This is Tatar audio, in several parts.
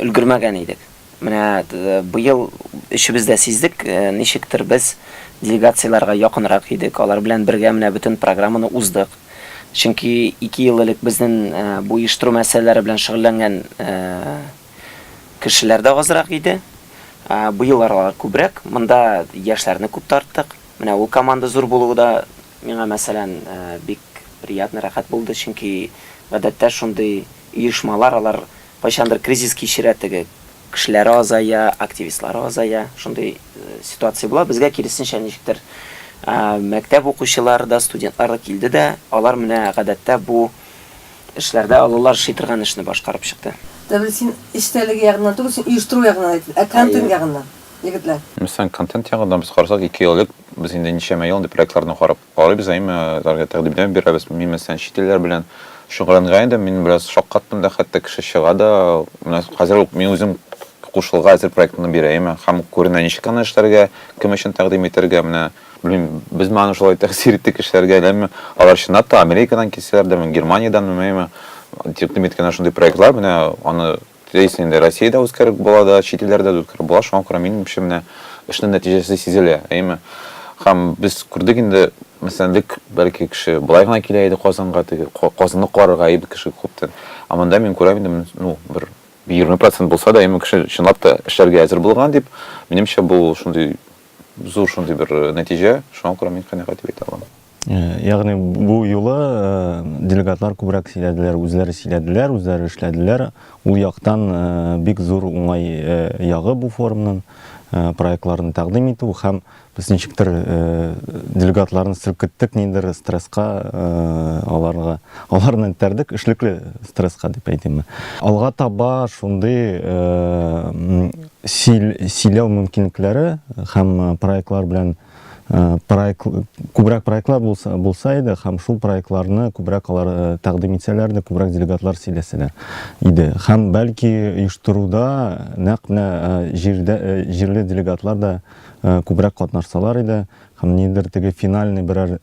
өлгермәгән идек. Менә быел өчебез дә сиздек, ничектер без делегацияләргә якынрак идек, алар белән бергә менә бөтен программаны уздык. Чөнки ике ел элек безнен бу оештыру мәсьәләләре белән шөгыльләнгән кешеләр дә азрак иде. Быел алар күбрәк. Монда яшьләрне күп тарттык. Менә ул команда зур булуы да миңа, мәсәлән, бик приятно, рәхәт булды, чөнки гадәттә шундый оешмалар, алар Кайчандыр кризис кичерә теге, кешеләре азая, активистлары азая, шундый ситуация була. Безгә киресенчә ничектер мәктәп укучылары да, студентлар да килде дә, алар менә гадәттә бу эшләрдә олылар эшли торган эшне башкарып чыкты. Дәвил, син эчтәлеге ягыннан түгел, син оештыру ягыннан әйт, ә контент ягыннан, егетләр. Мәсәлән, контент ягыннан без карасак, ике ел элек без инде ничәмә ел инде проектларны карап, Карыйбыз, әймәләргә тәкъдимнәр бирәбез. Мин, мәсәлән, чит илләр белән шөгыльләнгән идем, мин бераз шаккаттым да, хәтта кеше чыга да. Менә хәзер үк мин үзем кушылырга әзер проектны бирәем һәм күренә, ничек аны эшләргә, кем өчен тәкъдим итәргә, менә, белмим, без моңа шулай тәэсир иттек кешеләргә, ләмме, алар чынлап та Америкадан килсәләр дә, Германиядән, меме, тәкъдим иткәннәр шундый проектлар, менә аны. Теләйсең инде Россиядә үткәреп була да, чит илләрдә дә үткәреп була, шуңа күрә минемчә менә эшнең нәтиҗәсе сизелә, әйеме? Һәм без күрдек инде, мәсәлән, элек бәлки кеше болай гына килә иде Казанга, теге Казанны карарга, әйеме, кеше күптән. Ә монда мин күрәм инде, ну, бер егерме процент булса да, әйеме, кеше чынлап та эшләргә әзер булган дип, минемчә, бу шундый зур шундый бер нәтиҗә, шуңа күрә мин канәгать дип әйтә алам. Ягъни бу юлы делегатлар күбрәк сөйләделәр, үзләре сөйләделәр, үзләре эшләделәр. Ул яктан бик зур уңай ягы бу форумның проектларын тәкъдим итү һәм без ничектер делегатларны селкеттек ниндидер стресска, аларга, аларны этәрдек, эшлекле стресска дип әйтимме. Алга таба шундый сөйләү мөмкинлекләре һәм проектлар белән Э, проект күбрәк проектлар булса, булса иде һәм шул проектларны күбрәк алар э, тәкъдим итсәләр дә күбрәк делегатлар сөйләсәләр иде һәм бәлки оештыруда нәкъ менә э, җирдә җирле делегатлар да күбрәк катнашсалар иде һәм нидер теге финальный берәр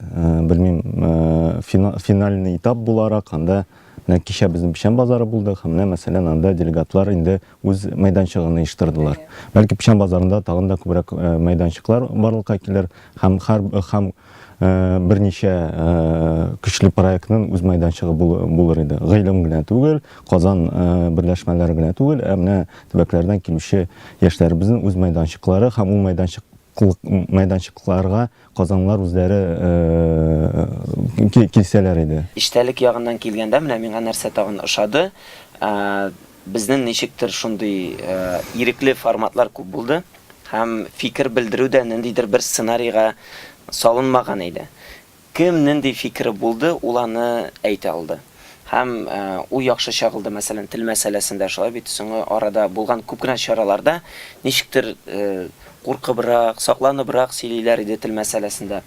белмим финальный этап буларак анда менә кичә безнең печән базары булды һәм менә мәсәлән анда делегатлар инде үз мәйданчыгын оештырдылар. Бәлки печән базарында тагын да күбрәк мәйданчыклар барлыкка килер һәм һәр һәм берничә көчле проектның үз мәйданчыгы булыр иде. Гыйлем генә түгел, Казан берләшмәләре генә түгел, ә менә төбәкләрдән килүче яшьләребезнең үз мәйданчыклары һәм ул мәйданчык мәйданчыкларга казанлылар үзләре килсәләр иде. Эчтәлек ягыннан килгәндә, менә миңа нәрсә тагын ошады, Безнен ничектер шундый ирекле форматлар күп булды һәм фикер белдерү дә ниндидер бер сценарийга салынмаган иде. Кем нинди фикере булды, ул аны әйтә алды. Һәм ул яхшы чагылды, мәсәлән, тел мәсьәләсендә шулай бит, соңгы арада булган күп кенә чараларда ничектер куркыбрак, сакланыбрак сөйлиләр иде тел мәсьәләсендә.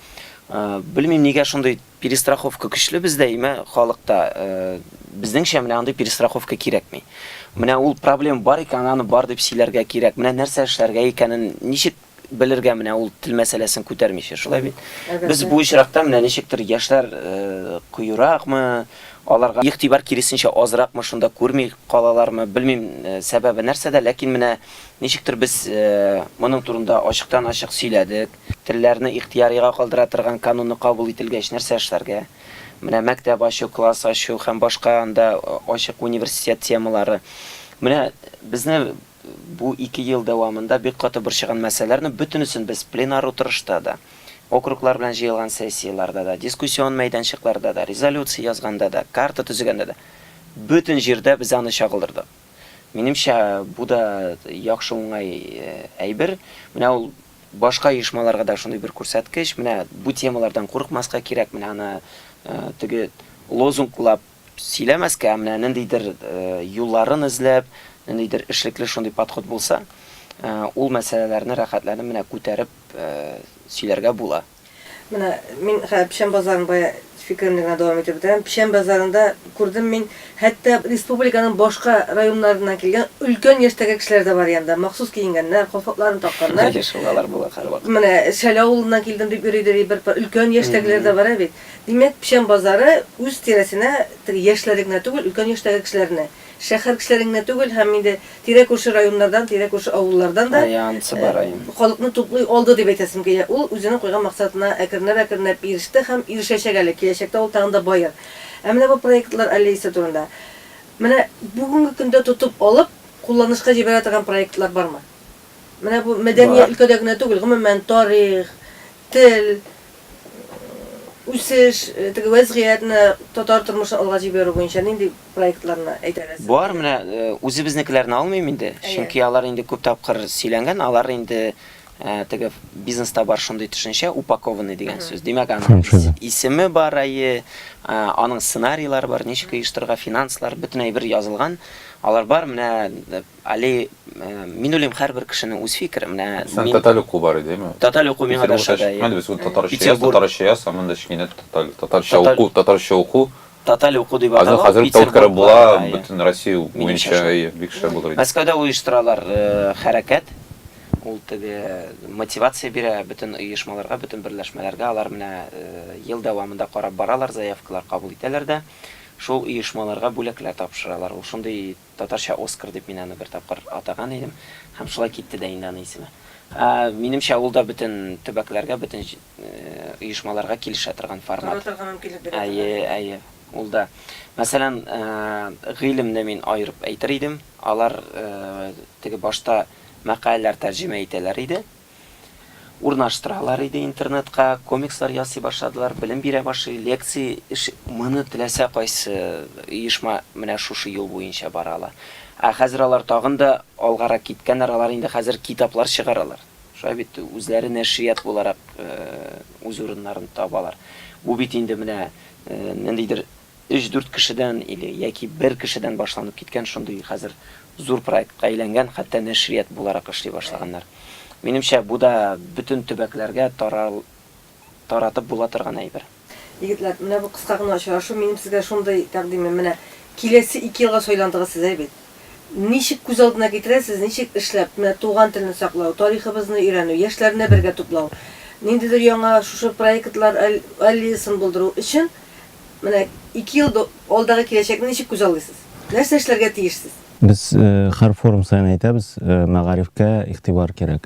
Белмим, нигә шундый Перестраховка көчле бездә имә халыкта. Безнеңчә менә андый перестраховка кирәкми. Менә ул проблем бар икән, аны бар дип сөйләргә кирәк. Менә нәрсә эшләргә икәнен ничек белергә менә ул тел мәсьәләсен күтәрмичә, шулай бит? Без бу очракта менә ничектер яшьләр кыюракмы, аларга игътибар киресенчә азракмы, шунда күрми калалармы, белмим сәбәбе нәрсәдә, ләкин менә ничектер без моның турында ачыктан-ачык сөйләдек. Телләрне ихтыярига калдыра торган кануны кабул ителгәч нәрсә эшләргә? Менә мәктәп ачу, класс ачу һәм башка анда ачык университет темалары. Менә безне бу ике ел дәвамында бик каты борчыган мәсьәләләрнең бөтенесен без пленар утырышта да, округлар белән җыелган сессияләрдә дә, дискуссион мәйданчыкларда да, резолюция язганда да, карта төзегәндә дә, бөтен җирдә без аны чагылдырдык. Минемчә, бу да яхшы уңай әйбер. Менә ул Башка оешмаларга да шундый бер күрсәткеч, менә бу темалардан курыкмаска кирәк, менә аны теге лозунглап сөйләмәскә, ә менә ниндидер юлларын эзләп, ниндидер эшлекле шундый подход булса, ул мәсьәләләрне рәхәтләнеп менә күтәреп сөйләргә була. Менә мин хәзер Печән базарын бая фикеремне генә дәвам итеп бетерәм. Печән базарында күрдем мин, хәтта республиканың башка районнарыннан килгән өлкән яшьтәге кешеләр дә бар янда. Махсус киенгәннәр, калфакларын такканнар. Әйе, шундыйлар була һәрвакыт. Менә Шәле авылыннан килдем дип йөри, ди, бер пар өлкән яшьтәгеләр дә бар, ә бит. Димәк, Печән базары үз тирәсенә теге яшьләрне генә түгел, өлкән яшьтәге кешеләрне. Шәһәр кешеләре генә түгел, һәм инде тирә-күрше районнардан, тирә-күрше авыллардан да халыкны туплый алды дип әйтәсем килә. Ул үзенең куйган максатына әкренләп-әкренләп иреште һәм ирешәчәк әле, киләчәктә ул тагын да баер. Ә менә бу проектлар аллеясы турында. Менә бүгенге көндә тотып алып, кулланышка җибәрә торган проектлар бармы? Менә бу мәдәни өлкәдә генә түгел, гомумән, тарих, тел, үсеш, теге вәзгыять, менә татар тормышын алга җибәрү буенча нинди проектларны әйдәгез. Бар, менә үзебезнекеләрне алмыйм инде, чөнки алар инде күп тапкыр сөйләнгән, алар инде теге бизнеста бар шундый төшенчә, упакованный дигән сүз. Димәк, аның исеме бар, әйе, аның сценарийлары бар, ничек оештырырга, финанслар, бөтен әйбер язылган. Алар бар, менә әле мин уйлыйм, һәрбер кешенең үз фикере. Менә Син татар уку бар иде, әйеме? Татар уку миңа да ошады, әйе. Без татарча яз, татарча яз, ә монда кечкенә татарча уку, татарча уку. Тоталь уку дип атала. Аны хәзер тоткарып була, бөтен Россия буенча бик шәп булыр иде. Мәскәүдә оештыралар хәрәкәт. Ул теге мотивация бирә бөтен оешмаларга, бөтен берләшмәләргә. Алар менә ел дәвамында карап баралар, заявкалар кабул итәләр дә шул оешмаларга бүләкләр тапшыралар. Ул шундый Татарча Оскар дип мин аны бер тапкыр атаган идем. Һәм шулай китте дә инде аны исеме. Ә, минемчә, ул да бөтен төбәкләргә, бөтен җ, оешмаларга килешә торган формат. Тора торган мөмкинлек бирә торган Әйе, формат. әйе. Ул да. Мәсәлән, ә, гыйлемне мин аерып әйтер идем. Алар, ә, теге башта мәкаләләр тәрҗемә итәләр иде. Урнаштыралар иде интернетка, комикслар ясый башладылар, белем бирә башлый, лекци эш. Моны теләсә кайсы оешма менә шушы юл буенча бара ала. Ә хәзер алар тагын да алгарак киткәннәр, алар инде хәзер китаплар чыгаралар. Шулай бит, үзләре нәшрият буларак үз урыннарын табалар. Бу бит инде менә ниндидер Өч-дүрт кешедән или яки бер кешедән башланып киткән шундый хәзер зур проектка әйләнгән, хәтта нәшрият буларак эшли башлаганнар. Минемчә, бу да бөтен төбәкләргә тарал таратып була торган әйбер. Егетләр, менә бу кыска гына очрашу, минем сезгә шундый тәкъдимем, менә киләсе ике елга сайландыгыз сез, әй бит. Ничек күз алдына китерәсез, ничек эшләп, менә туган телне саклау, тарихыбызны өйрәнү, яшьләрне бергә туплау, ниндидер яңа шушы проектлар аллеясын булдыру өчен Менә ике ел алдагы киләчәкне ничек күзаллыйсыз? Нәрсә эшләргә тиешсез? Без һәр форум саен әйтәбез, мәгарифкә игътибар кирәк.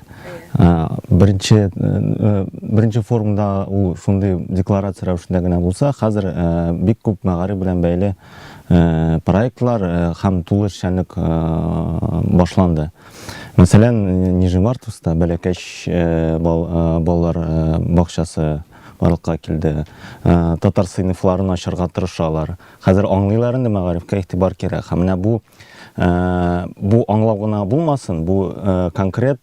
Беренче, беренче форумда ул шундый декларация рәвешендә генә булса, хәзер бик күп мәгариф белән бәйле проектлар һәм тулы эшчәнлек башланды. Мәсәлән, Нижневартовскта Бәләкәч балалар бакчасы Барлыкка килде. Татар сыйныфларын ачарга тырышалар. Хәзер аңлыйлар инде мәгарифкә игътибар кирәк. Һәм менә бу бу аңлау гына булмасын, бу конкрет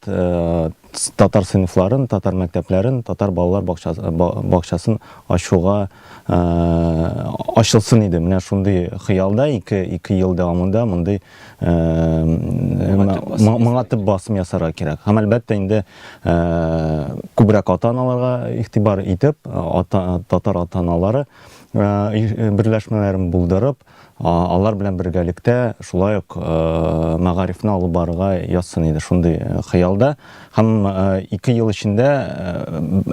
татар сыйныфларын, татар мәктәпләрен, татар балалар бакчасын ачуга ачылсын иде. Менә шундый хыялда ике ел дәвамында мондый моңа төп басым ясарга кирәк һәм әлбәттә инде күбрәк ата аналарга игътибар итеп татар ата аналары берләшмәләрен булдырып алар белән бергәлектә шулай ук мәгарифне алып барырга язсын иде шундый хыялда һәм ике ел эчендә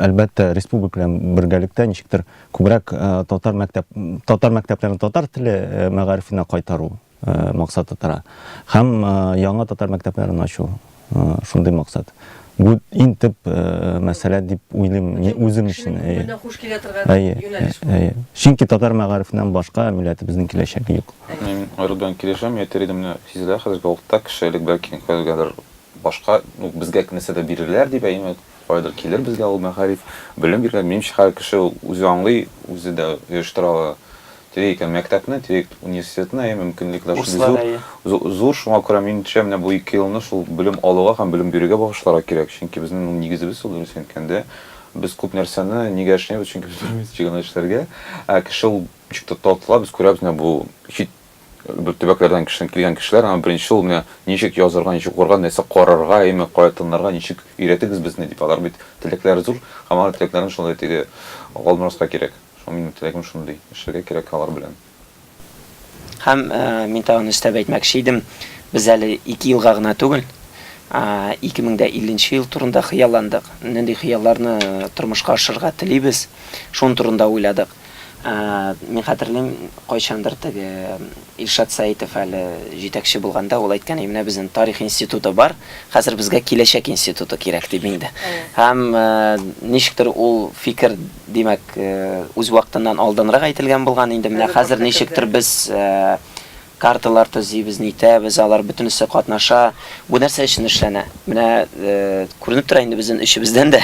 әлбәттә республика белән бергәлектә ничектер күбрәк татар мәктәп татар мәктәпләрен татар теле мәгарифенә кайтару максаты тора. Һәм яңа татар мәктәпләрен ачу шундый максат. Бу иң төп мәсьәлә дип уйлыйм үзем өчен. Күңеленә хуш килә торган юнәлеш бу. Әйе. Чөнки татар мәгарифеннән башка милләтебезнең киләчәге юк. Мин Айрат белән килешәм, әйтер идем менә сизелә хәзерге вакытта кеше элек бәлки кемгәдер башка, ну безгә нәрсәдер бирерләр дип, әйеме? Кайдыр килер безгә ул мәгариф, белем биргән, минемчә, һәр кеше ул үзе аңлый, үзе дә оештыра ала. Тирәк икән мәктәпне, тирәк университетны, әйе, мөмкинлекләр шундый зур. Курслар, әйе. Зур, шуңа күрә, минемчә, менә бу ике елны шул белем алуга һәм белем бирүгә багышларга кирәк, чөнки безнең ул нигезебез ул, дөресен әйткәндә. Без күп нәрсәне нигә эшлибез, чөнки без белмибез ничек аны эшләргә. Ә кеше ул ничек тә тартыла, без күрәбез, менә бу чит. бер төбәкләрдән кешеләр, килгән кешеләр, аңа беренче ул менә ничек язырга, ничек укырга, нәрсә карарга, әйме, кая тынларга, ничек өйрәтегез безне, дип, алар бит теләкләре зур, һәм алар теләкләрен шулай теге Габдулмораска кирәк. Шуңа минем теләгем шундый, эшләргә кирәк алар белән. Һәм мин тагын өстәп әйтмәкче идем, без әле ике елга гына түгел, 2050 нче ел турында хыялландык, нинди хыялларны тормышка ашырырга телибез, шуның турында уйладык. Мин хәтерлим, кайчандыр теге Илшат Сәитов әле җитәкче булганда, ул әйткән, әй, менә безнең тарих институты бар, хәзер безгә киләчәк институты кирәк, дип инде. Һәм ничектер ул фикер, димәк, үз вакытыннан алдынрак әйтелгән булган, инде менә хәзер ничектер без Карталар төзибез, нитәбез, алар бөтенесе катнаша. Бу нәрсә өчен эшләнә? Менә күренеп тора инде безнен өчебездән дә,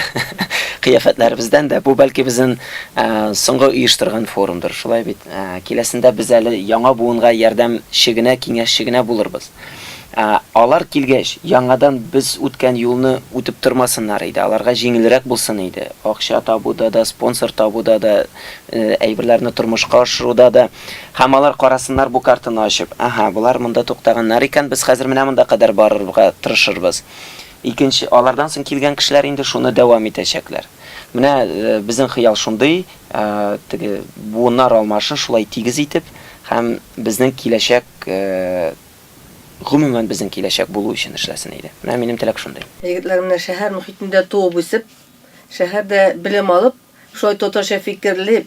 кыяфәтләребездән дә. Бу, бәлки, безнен соңгы оештырган форумдыр, шулай бит? Киләсендә без әле яңа буынга ярдәмче генә, киңәшче генә булырбыз. Алар килгәч, яңадан без үткән юлны үтеп тормасыннар иде, аларга җиңелрәк булсын иде. Акча табуда да, спонсор табуда да, әйберләрне тормышка ашыруда да. Һәм алар карасыннар бу картаны ачып, Аһа, болар монда туктаганнар икән, без хәзер менә монда кадәр барырга тырышырбыз. Икенче, алардан соң килгән кешеләр инде шуны дәвам итәчәкләр. Менә безнең хыял шундый, теге буыннар алмашын шулай тигез итеп һәм безнең киләчәк, гомумән безнең киләчәк булу өчен эшләсен иде. Менә минем теләк шундый. Егетләр менә шәһәр мохитендә туып-үсеп, шәһәрдә белем алып, шулай татарча фикерлип,